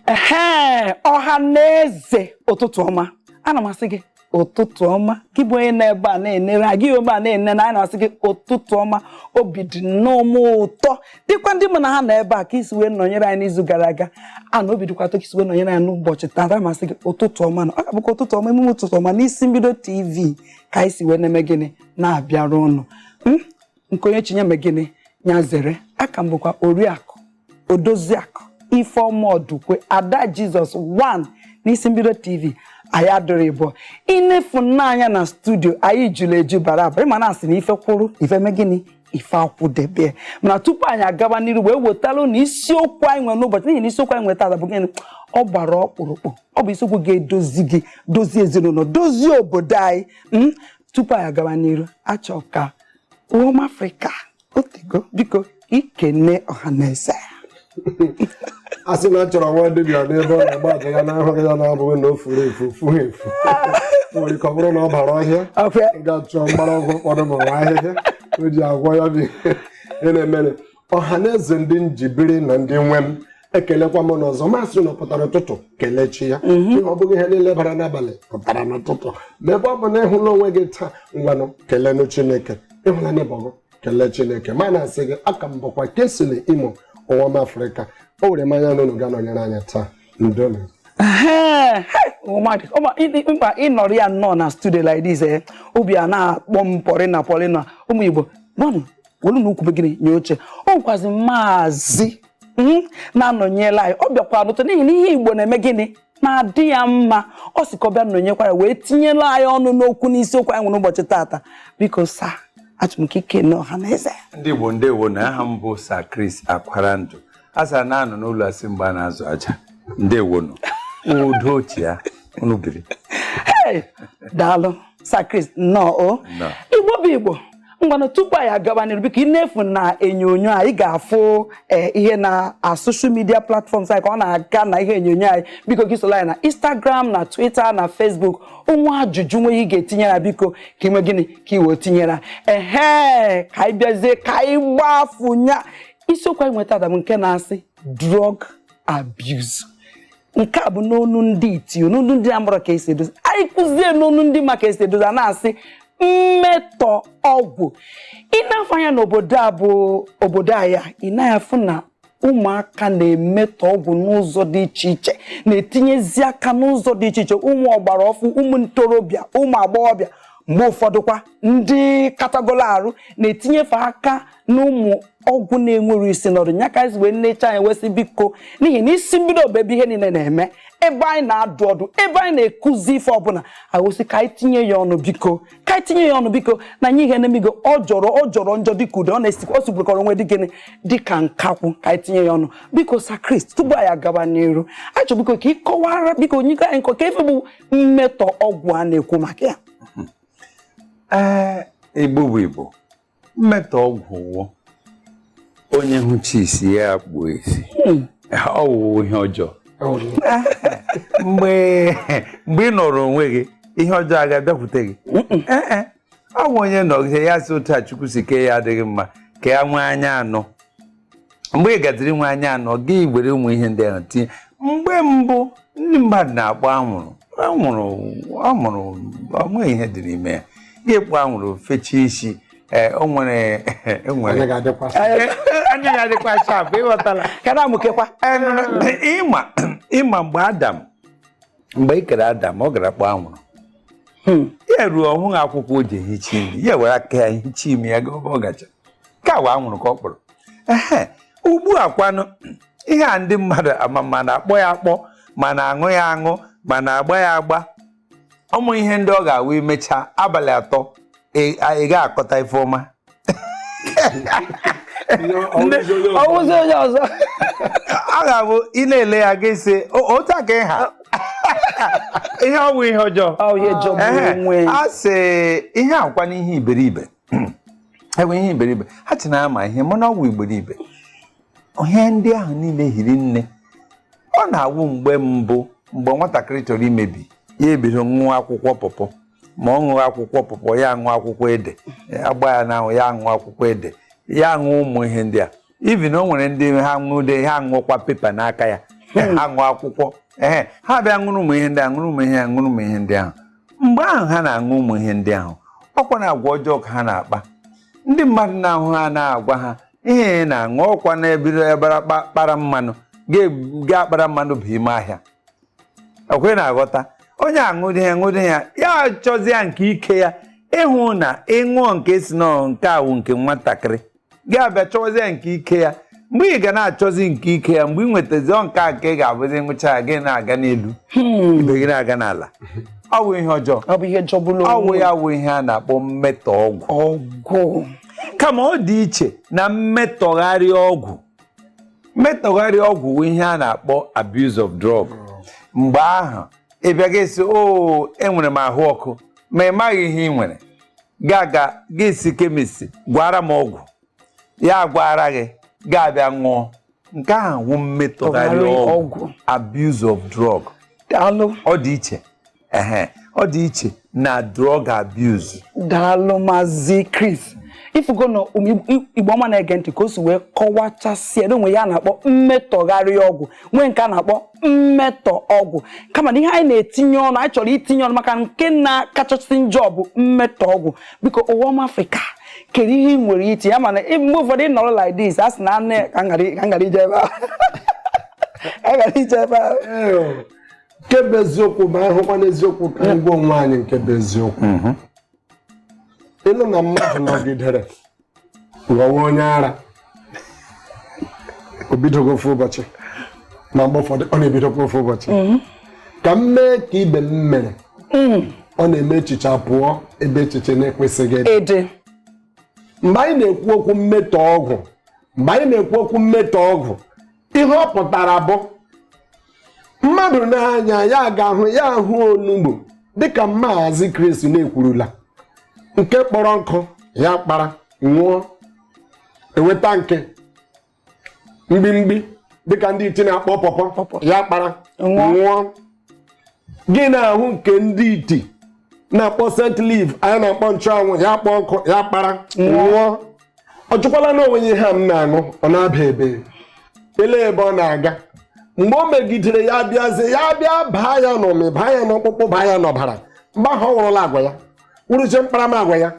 ee ọha na eze ụtụtụ ọma ana m asị gị ụtụtụ ọma gị bụ onye nọ ebe a na-enere anyị ebe a na-ene na anyị na-asị gị ụtụtụ ọma obi dị nnọọ m ụtọ dịkwa ndị mụ na ha nọ ebe a ka i si wee nọnyere anyị n'izu gara aga a na obi dịkwa ụtọ ka i si wee nọnyere anyị n'ụbọchị taata ma sị gị ụtụtụ ọma na ọ ga-abụkwa ụtụtụ ọma emume ụtụtụ ọma n'isi mbido tv ka anyị si wee na-eme gịnị na-abịara ụnụ nke onye chi nye mee gịnị ya zere aka m bụkwa oriakụ odoziakụ ifeọma ọdụkwe ada jizọs 1 n'isi mbido tv anyị adịrọ ịbụọ ị na-afụ n'anya na studio anyị juru eju bara abara ị ma na a sị na ife kwụrụ ife mee gịnị ife akwụdebe mana tupu anyị agaba n'iru wee wetara unu isiokwu anyị nwere n'ụbọchị n'ihi na isiokwu anyị nwetara bụ gịnị ọ gbara ọkpụrụkpụ ọ bụ isiokwu ga-edozi gị dozie ezinụlọ dozie obodo anyị tupu anyị agawa n'iru achọ ka ụmụ afrịka otego biko i kene ọhaneze a sị na a chọrọ nwa dibịa n'ebe ọ na-agba aja ya na ahụghị ya na ọ bụghị na o furu efu o fughị efu nwere ike ọ bụrụ na ọ bara ọhịa ga-achọ mgbọrọgwụ ụfọdụ ma nwa ahịhịa o ji agwọ ya bụ ihe na-emere ọha na eze ndị m ji biri na ndị nwe m ekelekwa m unu ọzọ ma sị na ọ pụtara ụtụtụ kelee chi ya mhm. ọ bụghị ihe niile bara n'abalị pụtara n'ụtụtụ ma ebe ọ bụ na ị hụla onwe gị taa ngwanụ kelenụ chineke ị hụla n'ịbọgụ kelee chineke ma na-asị gị aka m bụkwa Kingsley imo ụwa m afrịka o were m anya na unu ga-anọnyere anyị taa ndewonu mkpa ịnọrọ ya nnọọ na studio like this eh, obi a na-akpọ m pọrịna pọrịna ụmụ Igbo welunụ ukwu mee gịnị nye oche o nwekwazi maazị hmm, na-anọnyela anyị ọ bịakwa n'ụtọ n'ihi na ihe igbo na-eme gịnị na-adị ya mma ọ sị ka ọ bịa nọnyekwara wee tinyela anyị ọnụ n'okwu n'isiokwu anyị nwere ụbọchị taata biko sir achọrọ m ka i kene ọha na eze ndị igbo ndewonu aha m bụ Sir Chris Akwarandụ a sara na anọ n'ụlọ asị mgbe a na-azụ aja ndewonu udo otu ya unu biri daalụ Sir Chris nnọọ o igbo bụ igbo ngwanụ tupu anyị agawa n'iru biko ị na-afụ na enyonyo anyị ga-afụ eh, ihe na social media platforms anyị ka ọ na-aga na ihe enyonyo anyị biko gị sola anyị na Instagram na Twitter na Facebook o nwee ajụjụ nwe ị ga-etinyere biko ka i mee gịnị ka i wee tinyere ehe ka anyị bịazie ka anyị gbafunya isiokwu anyị nweta adam nke na-asị drug abuse nke a bụ n'onu ndị iti n'onu ndị amụrọ ka e si edozi anyị kwuzie n'onu ndị ma ka e si edozi a na-asị mmetọ ọgwụ ị na-afụ anya n'obodo a bụ obodo anyị ị na-afụ na ụmụaka na-emetọ ọgwụ n'ụzọ dị iche iche na-etinyezi aka n'ụzọ dị iche iche ụmụ ọgbara ọfụụ ụmụ ntorobịa ụmụ agbọghọbịa mgbe ụfọdụkwa ndị katagolo arụ na-etinyefe aka n'ụmụ ọgwụ na-enwerọ isi na ọdụ nya ka anyị wee nnecha anyị wesị biko n'ihi na isi mbido bụ ebe ihe niile na-eme ebe anyị na-adụ ọdụ ebe anyị na-ekuzi ife ọbụla agosi ka anyị tinye ya ọnụ biko ka anyị tinye ya ọnụ biko na nye ihe na-emigo ọ jọrọ ọ jọrọ njọ dịka udele ọ na-esi ọ sigbukọrọ onwe dị gịnị dịka nkakwụ ka anyị tinye ya ọnụ biko sir chris tupu anyị agaba n'iru achọ biko ka ị kọwara biko nye anyị nkọwa ife bụ mmetọ ọgwụ a na-ekwu maka ya ee igbo bụ igbo mmetọ ọgwụ wụ onye hụchi isi ya akpu isi hmm. ọ wụ ihe ọjọọ mgbe mgbe ị nọrọ onwe gị ihe ọjọọ agaghị abịakwute gị eh, eh. ọ bụ onye nọgide ya sị otu a chukwu si kee ya adịghị mma ka ya nwee anya anọ mgbe ị gaziri inwe anya anọ gị were ụmụ ihe ndị ahụ tinye mgbe mbụ ndị mmadụ na-akpọ anwụrụ anwụrụ anwụrụ onweghị ihe dị n'ime ya gị kpọ anwụrụ fechie isi ee o nwere enwere Onye ga-adịkwa sị, anya ya dịkwa sharp ị ghọtala ka na-amụkekwa ịma ịma mgbe adam mgbe e kere adam ọ gara kpọọ anwụrụ hmm. ya ruo ọhụghị akwụkwọ o ji ehicha imi ya were aka ya hicha imi ya ebe ọ gacha ka wa anwụrụ ka ọ kpọrọ ehe ugbu a kwanụ ihe a ndị mmadụ ma na-akpọ ya akpọ ma na-aṅụ ya aṅụ ma na-agba ya agba ụmụ ihe ndị ọ ga-awụ ị mechaa abalị atọ ị ga-akọta ife ọma ọ wụzi onye ọzọ a ga-abụ ị na-ele ya gị sị otu a ka ị ha ihe ọ bụ ihe ọjọọ a sị ihe akwa n'ihe iberibe emee ihe iberibe ha chee na ha ma ihe mana ọ wụ iberibe ihe ndị ahụ niile hiri nne ọ na-awụ mgbe mbụ mgbe nwatakịrị chọrọ imebi ya ebido ṅụwa akwụkwọ pọpọ ma ọ ṅụọ akwụkwọ pọpọ ya aṅụ akwụkwọ ede agba ya n'ahụ ya aṅụ akwụkwọ ede ya aṅụ ụmụ ihe ndị a even o nwere ndị ha ṅụde ha aṅụkwa pepa n'aka ya hmm. ha ṅụọ akwụkwọ ee ha bịa ṅụrụ ụmụ ihe ndị a ṅụrụ ụmụ ihe ya ṅụrụ ụmụ ihe ndị ahụ mgbe ahụ ha na-aṅụ ụmụ ihe ndị ahụ ọkwa na agwa ọjọọ ka ha na-akpa ndị mmadụ na-ahụ ha na-agwa ha ihe ị na-aṅụ ọkwa na-ebiri ebara kpara mmanụ ga-akpara mmanụ bụ ime ahịa ọkwa ị na-aghọta onye aṅụdị ya aṅụdị ya ya chọzi ya nke ike ya ị hụ na ị ṅụọ nke e sị na nke a wụ nke nwatakịrị gị abịa chọwazi ya nke ike ya mgbe ị ga na-achọzi nke ike ya mgbe ị nwetazi nke a ka ị ga-abụzi ngwụcha ya gị na-aga n'elu hmm. ibe gị na-aga n'ala ọ wụ ihe ọjọọ ọ bụ ihe jọgburu ọ wụ ya wụ ihe a na-akpọ mmetọ ọgwụ kama ọ dị iche na mmetọgharị ọgwụ mmetọgharị ọgwụ wụ ihe a na-akpọ abuse of drug mgbe ahụ ị bịa gị sị o enwere m ahụ ọkụ ma ị maghị ihe ị nwere gaa ga gị sị kemist gwaara m ọgwụ ya agwaara gị gaa bịa ṅụọ nke ahụ wụ mmetọgharị ọgwụ abuse of drug daalụ ọ dị iche ehe ọ dị iche na drug abuse daalụ maazị Chris ifugo ndị Igbo ọma na-ege ntị ka o si wee kọwachasịa na o nwere ihe a na-akpọ mmetọgharị ọgwụ nwee nke a na-akpọ mmetọ ọgwụ kama na ihe anyị na-etinye ọnụ anyị chọrọ itinye ọnụ maka nke na-akachasị njọ bụ mmetọ ọgwụ biko ụwa ọma afrịka kedu ihe ị nwere iti ya mana mgbe ụfọdụ ị nọrọ like this a sị na anụ ka m ghara ije ebe a ka m ghara ije ebe a nke bụ eziokwu ma anyị hụkwa n'eziokwu ka anyị gwa onwe anyị nke bụ eziokwu mhm. ị nụ na mmadụ nọgidere ghọwa onye ara o bidoghị ofu ụbọchị ma mgbe ụfọdụ ọ na-ebidokwa ofu ụbọchị mhm. ka m mee ka ibe m mere mhm. ọ na-eme echiche pụọ ebe echiche na-ekwesịghị ịdị mgbe anyị na-ekwu okwu mmetọ ọgwụ mgbe anyị na-ekwu okwu mmetọ ọgwụ ihe ọ pụtara bụ mmadụ n'anya ya ga-ahụ ya ahụ onugbu dịka maazị Chris na-ekwurula nke kpọrọ nkụ ya kpara ṅụọ eweta nke mgbimgbi dịka ndị iti na-akpọ pọpọ ya kpara ṅụọ gị na-ahụ nke ndị iti na-akpọ scent leaf anyị na-akpọ nchụanwụ ya kpọọ nkụ ya kpara ṅụọ ọ jụkwala n'onwe ya ihe a m na-aṅụ ọ na-aba ebee ele ebe ọ na-aga mgbe o megidere ya bịazie ya bịa baa ya n'ụmị baa ya n'ọkpụkpụ baa ya n'ọbara mgbe ahụ ọ wụrụla agwa ya wụrụzie mkparamagwa ya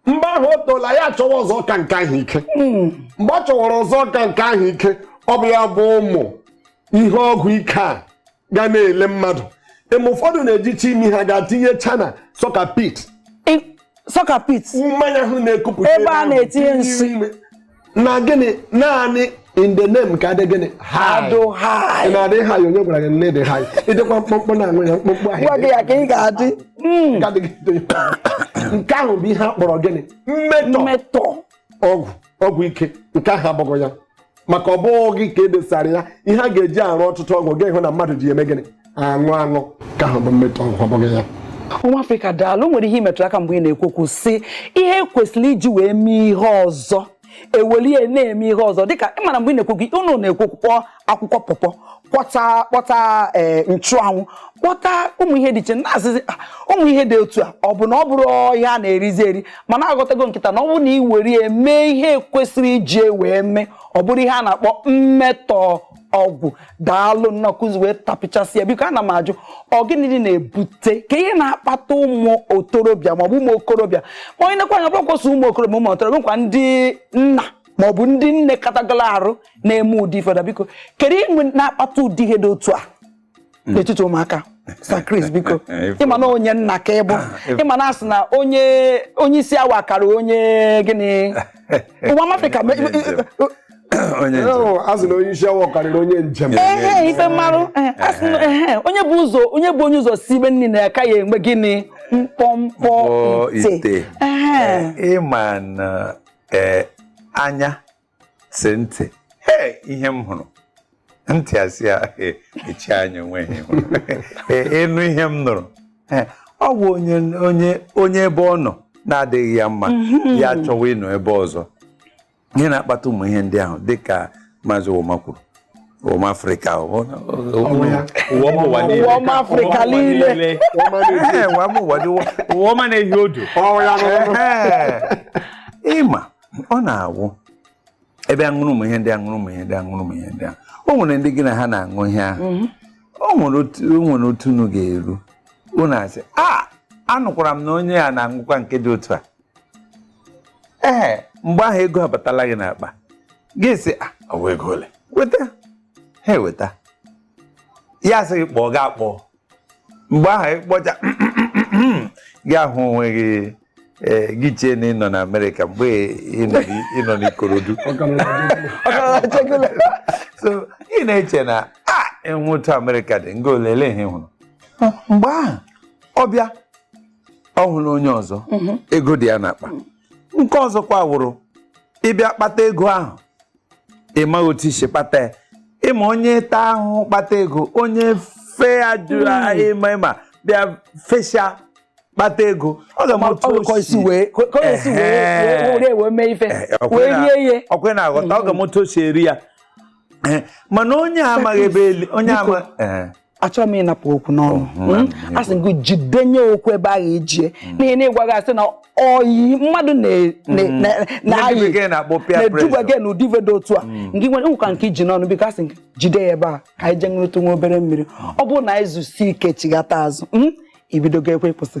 mgbe ahụ o toola ya achọwa ọzọ ka nke ahụ ike hmm. mgbe ọ chọwara ọzọ ka nke ahụ ike ọ bụ ya bụ ụmụ ihe ọgwụ ike a ga na-ele mmadụ eme ụfọdụ na-ejicha imi ha gaa tinyecha na soak pit soak pit ammonia ahụ na-ekupụta ebe a na-etinye nsị na gịnị naanị in the name ka a dị gịnị adị high na-adị high onye gwara gị na ị dị high ị dịkwa mkpụmkpụ na-aṅụ ya mkpụmkpụ ahụ gwa gị ya ka ị ga-adị hmm. nke ahụ bụ ihe a kpọrọ gịnị mmetọ ọgwụ ọgwụ ike nke ahụ abụghị ya maka ọ bụghị gị ka e desara ya ihe a ga-eji arụ ọtụtụ ọgwụ ga-ehụ na mmadụ ji eme gịnị aṅụ aṅụ nke ahụ bụ mmetọ ọgwụ ọ bụghị ya nwa afrịka daalụ nwere ihe ị metụrụ aka mgbe ị na-ekwu okwu sị ihe e kwesịrị iji wee mee ihe ọzọ ewelu ya na-eme ihe ọzọ dịka ị mara mgbe ị na-ekwu okwu unu na-ekwu okwu akwụkwọ pọpọ kpọta kpọta ee nchụanwụ kpọta ụmụ ihe dị iche na-asịzi "Ah, ụmụ ihe dị otu a ọ bụ na ọ bụrụ ihe a na-erizi eri mana aghọtago m kịta na ọ bụrụ na ị were ya mee ihe kwesịrị iji ya wee mee ọ bụrụ ihe a na-akpọ mmetọ ọgwụ daalụ nnọọ ka i si wee tapịchasịa biko ana m ajụ ọ gịnị dị na-ebute ka ihe na-akpata ụmụ otorobịa maọbụ ụmụ okorobịa ma onye nekwa anya bụrụkwasị ụmụ okorobịa ụmụ otorobịa nakwa ndị nna ma ọ bụ ndị nne katagolo arụ na-eme ụdị ife ndị a biko kedu ihe na-akpata ụdị ihe dị otu a hmm. n'etiti ụmụaka Sir Chris biko ịma na onye nna ka ị bụ ah, ịma na asị na onye onye isi awọ kara onye gịnị ụwa ọma afrịka asị na onye isi awọ karịrị onye njem ee ife mmarụ onye bu ụzọ onye bu onye ụzọ sibe nni na-aka ya enwe gịnị mkpọmkpọ ite ịma na ee anya sị ntị ee ihe m hụrụ ntị asị ya echi anya enweghị ị nụ ihe m nụrụ ọ bụ onye onye onye ebe ọ nọ na-adịghị ya mma mhm. ya achọwa ịnọ ebe ọzọ ihe na-akpata ụmụ ihe ndị ahụ dịka maazị Ụwaọma kwuru ụwa ọma afrịka ụwa ọma afrịka niile ụwa ọma na-ehi odo ịma ọ na-awụ ị bịa ṅụrụ ụmụ ihe ndị a ṅụrụ ụmụ ihe ndị ahụ o nwere ndị gị na ha na-aṅụ ihe ahụ mhm. o nwere otu unu ga-eru unu asị a anụkwara m na onye a na-aṅụkwa nke dị otu a ee mgbe ahụ ego abatala gị n'akpa gị sị "Ah, ọ wụ ego ole weta ha eweta ya sị gị kpọọ gị akpọọ mgbe ahụ ị kpọcha gị ahụ onwe gị ee, gị chee na ị nọ na amerịka mgbe ị nọ n'i- ị nọ n'ikorodu so ị na-eche na a wụ otu amerịka dị nga olele ihe ị hụrụ mgbe ahụ ọ bịa ọ hụrụ onye ọzọ mhm. ego dị ya n'akpa nke ọzọkwa wụrụ ị bịa kpata ego ahụ ị maghị otu i si kpata ya ịma onye taa ahụhụ kpata ego onye fee ajụ hmm. ịma ịma bịa fesia kpata ego ọ ga-ama otu o si wee mee ife eh, wee rie ihe ọ kwa ị na-aghọta ọ ga-ama otu o si eri ya eh, mana onye amaghị ebe onye amaghị achọghị m ịnapụ okwu n'ọnụ oh, hmm? hmm? a sị gị jidenye okwu ebe ahụ i ji ya hmm. n'ihi na ịgwaghị asị na oyi mmadụ na-ayi na-eduba gị na ụdị ife dị otu a nke nwere ụka nke i ji n'ọnụ biko asị gị jide ya ebe a ka anyị jee ṅụrụtụ nwa obere mmiri ọ bụrụ na anyị zusie ike chighata azụ i bidokwa ebe ị kwụsị